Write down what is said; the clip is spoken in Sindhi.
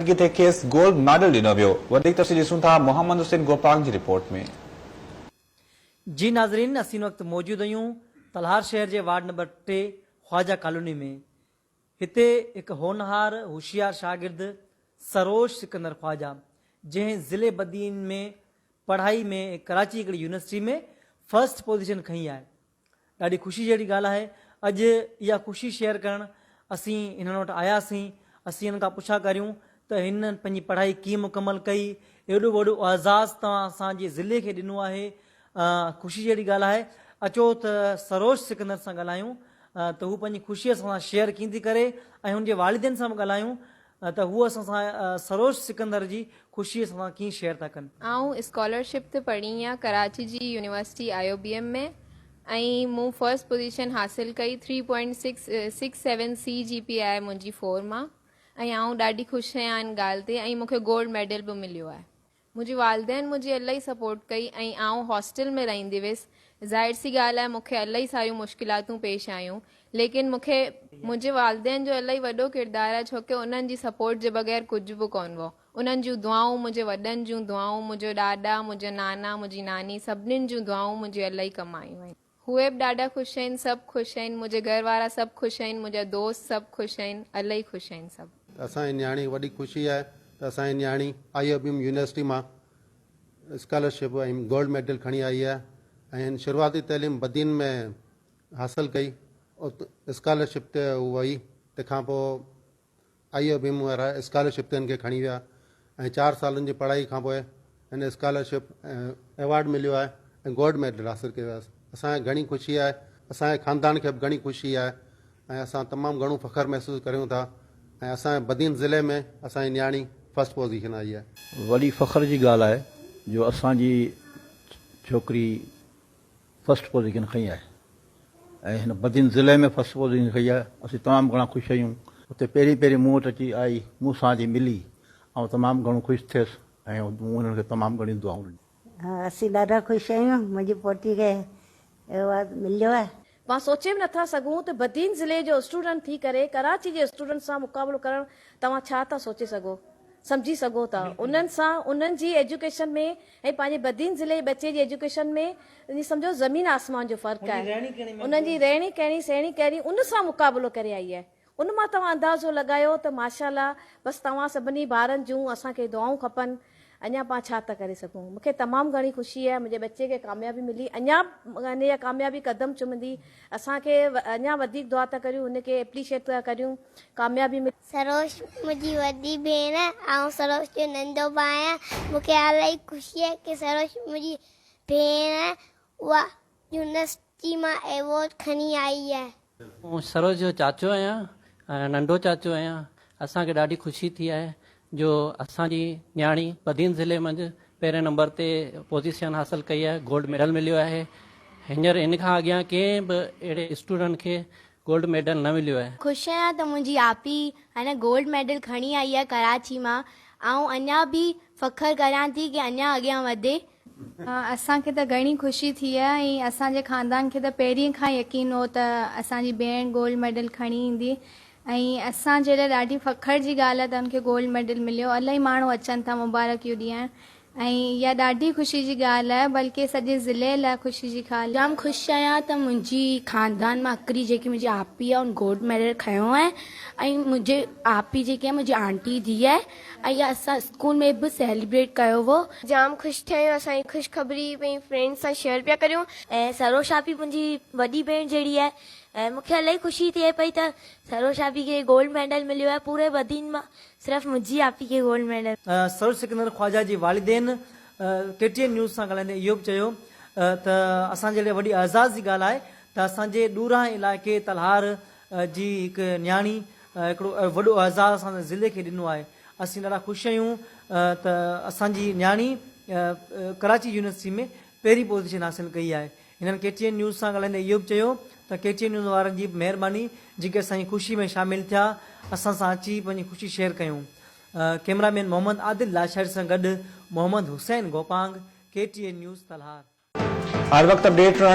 جتي کيس گولڊ ميڊل ڏنو ويو. وڌيڪ تفصيل ڏسون ٿا محمد حسين گوپانگ جي رپورٽ ۾. جي ناظرين اسين هن وقت موجود اهيون تلهار شهر جي وارڊ نمبر ٽي خواجه ڪالوني ۾ هتي هڪ هونهار هوشيار شاگرد سروش سڪندر خواجه جنهن ضلعي بدين ۾ پڙهائي ۾ ڪراچي هڪڙي يونيورسٽي ۾ فرسٽ پوزيشن کنئي آهي ڏاڍي خوشي جهڙي ڳالهه آهي اڄ اها خوشي شيئر ڪرڻ اسين هنن وٽ آياسين اسين هنن کان پڇا ڪريون ته هنن پنهنجي پڙهائي ڪيئن مڪمل ڪئي ايڏو وڏو اعزاز توهان اسان جي ضلعي کي ڏنو آهي خوشي جهڙي ڳالهه آهي اچو ته سروش سڪندر سان ڳالهايون ته هو پنهنجي خوشي اسان سان شيئر ڪيئن ٿي ڪري ۽ هن جي والدين سان به ڳالهايون ته هو اسان سان سروش سڪندر جي خوشي اسان سان ڪيئن شيئر ٿا ڪن. آئون اسڪالرشپ تي پڙهين آهيان ڪراچي جي university I O B M ۾ ۽ مون فرسٽ پوزيشن حاصل ڪئي three point six six seven C G P آهي منهنجي فور مان ۽ آئون ڏاڍي خوش آهيان ان ڳالهه تي ۽ مونکي گولڊ ميڊل به مليو آهي منهنجي والدين منهنجي الائي سپورٽ ڪئي ۽ آئون هاسٽل ۾ رهندي هيس. ظاهر سي ڳالهه آهي مون کي الائي ساريون مشڪلاتون پيش آيون ليڪن مون کي منهنجي والدين جو الائي وڏو ڪردار آهي ڇوڪه انهن جي سپورٽ جي بغير ڪجهه به ڪونه هو. انهن جون دعائون منهنجي وڏن جون دعائون منهنجو ڏاڏا منهنجو نانا منهنجي ناني سڀنين جون دعائون منهنجي الائي ڪم آيون آهن. اهي به ڏاڍا خوش آهن سڀ خوش آهن منهنجي گهر وارا سڀ خوش آهن منهنجا دوست سڀ خوش آهن الائي خوش آهن سڀ. ته اسان جي نياڻي وڏي خوشي آهي ته اسان جي نياڻي I O B M university مان اسڪالرشپ ۽ گولڊ ميڊل کڻي آئي آهي ۽ هن شروعاتي تعليم بدين ۾ حاصل ڪئي ات اسڪالرشپ تي هو وئي تنهن کان پوء آئي ايف ايم وارا اسڪالرشپ تي هن کي کڻي ويا ۽ چار سالن جي پڙهائي کانپوء هن اسڪالرشپ ۽ ايوارڊ مليو آهي ۽ گولڊ ميڊل حاصل ڪيو آهي اسان کي گهڻي خوشي آهي اسان جي خاندان کي به گهڻي خوشي آهي ۽ اسان تمام گهڻو فخر محسوس ڪريون ٿا ۽ اسان جي بدين ضلعي ۾ اسان جي نياڻي فرسٽ پوزيشن آئي آهي. وڏي فخر جي ڳالهه آهي جو اسان جي ڇوڪري فرسٽ پوزيشن کنئي آهي ۽ هن بدين ضلعي ۾ فرسٽ پوزيشن کنئي آهي اسين تمام گهڻا خوش آهيون. اتي پهرين پهرين مون وٽ اچي آئي مون سان جي ملي آئون تمام گهڻو خوش ٿيس ۽ مون هنن کي تمام گهڻيون دعائون ڏنيون. اسين ڏاڍا خوش آهيون منهنجي پوٽي کي ايوارڊ مليو آهي. مان سوچي به نٿا سگهون ته بدين ضلعي جو اسٽوڊنٽ ٿي ڪري ڪراچي جي اسٽوڊنٽ سان مقابلو ڪرڻ توهان ڇا ٿا سوچي سگهو سمجهي سگهو ٿا انهن سان انهن جي ايجوڪيشن ۾ ۽ پنهنجي بدين ضلعي جي ٻچي جي ايجوڪيشن ۾ ائين سمجهو زمين آسمان جو فرق آهي انهن جي رهڻي ڪهڻي سهڻي ڪهڙي ان سان مقابلو ڪري آئي آهي. ان مان توهان اندازو لڳايو ته ماشاءالله بس توهان سڀني ڀائرن جون اسان کي دعائون کپن اڃا پان ڇا ته ڪري سگهون مونکي تمام گهڻي خوشي آهي منهنجي ٻچي کي ڪاميابي ملي اڃا هن اها ڪاميابي قدم چمندي اسان کي اڃا وڌيڪ دعا ته ڪريون هن کي اپريشيٽ ته ڪريون ڪاميابي ملي. سروش منهنجي وڏي ڀيڻ آئون سروش جو ننڍو ڀاء آهيان مونکي الاهي خوشي آهي ڪي سروش منهنجي ڀيڻ اها يونيورسٽي مان ايوارڊ کڻي آئي آهي. آئون سروج جو چاچو آهيان ۽ ننڍو چاچو آهيان. اسان کي ڏاڍي خوشي ٿي آهي جو اسان جي نياڻي بدين ضلعي منجهه پهرين نمبر تي پوزيشن حاصل ڪئي آهي، گولڊ ميڊل مليو آهي. هينئر ان کان اڳيان ڪنهن به اهڙي اسٽوڊنٽ کي گولڊ ميڊل نه مليو آهي. خوش آهيان ته منهنجي آپي هن گولڊ ميڊل کڻي آئي آهي ڪراچي مان. آئون اڃان به فخر ڪريان ٿي ڪي اڃان اڳيان وڌي اسان کي ته گهڻي خوشي ٿي ۽ اسان جي خاندان کي ته پهرين کان ئي يقين هو ته اسان جي ڀيڻ گولڊ ميڊل کڻي ايندي ۽ اسان جي لاء ڏاڍي فخر جي ڳالهه آهي ته ان کي گولڊ ميڊل مليو الائي ماڻهو اچن ٿا مبارڪيون ڏيڻ ۽ اها ڏاڍي خوشي جي ڳالهه آهي بلڪه سڄي ضلعي لاء خوشي جي خال جام خوش آهيان ته منهنجي خاندان مان اڪري جيڪي منهنجي آپي آهي ان گولڊ ميڊل کنيو آهي ۽ منهنجي آپي جيڪي آهي منهنجي آنٽي جي ڌيء آهي ايا اسان اسڪول ۾ به سيليبريٽ ڪيو هو. جام خوش ٿيا آهيون اسان هي خوشخبري پنهنجي فرينڊس سان شيئر پيا ڪريون. ۽ سروش آپي منهنجي وڏي ڀيڻ جهڙي آهي ۽ مون کي الائي خوشي ٿئي پئي ته سروش آپي کي گولڊ ميڊل مليو آهي پوري بدين مان صرف منهنجي آپي کي گولڊ ميڊل. سروش سڪندر خواجا جي والدين ڪي ٽي اين نيوز سان ڳالهائيندي اهو به چيو ته اسان جي لاء وڏي اعزاز جي ڳالهه آهي ته اسان جي ڏورانهين علائقي تلهار جي هڪ نياڻي هڪڙو وڏو اعزاز اسان ضلعي کي ڏنو آهي اسين ڏاڍا خوش اهيون ته اسان جي نياڻي ڪراچي يونيورسٽي ۾ پهرين پوزيشن حاصل ڪئي آهي هنن ڪي ٽي اين نيوز سان ڳالهائيندي اهو به چيو ته ڪي ٽي اين نيوز وارن جي به مهرباني جيڪي اسان جي خوشي ۾ شامل ٿيا اسان سان اچي پنهنجي خوشي شيئر ڪيون ڪئميرا مين محمد عادل لاشاري سان گڏ Muhammad Hussain Gopang K T N news Talhar. هر وقت اپڊيٽ رهڻ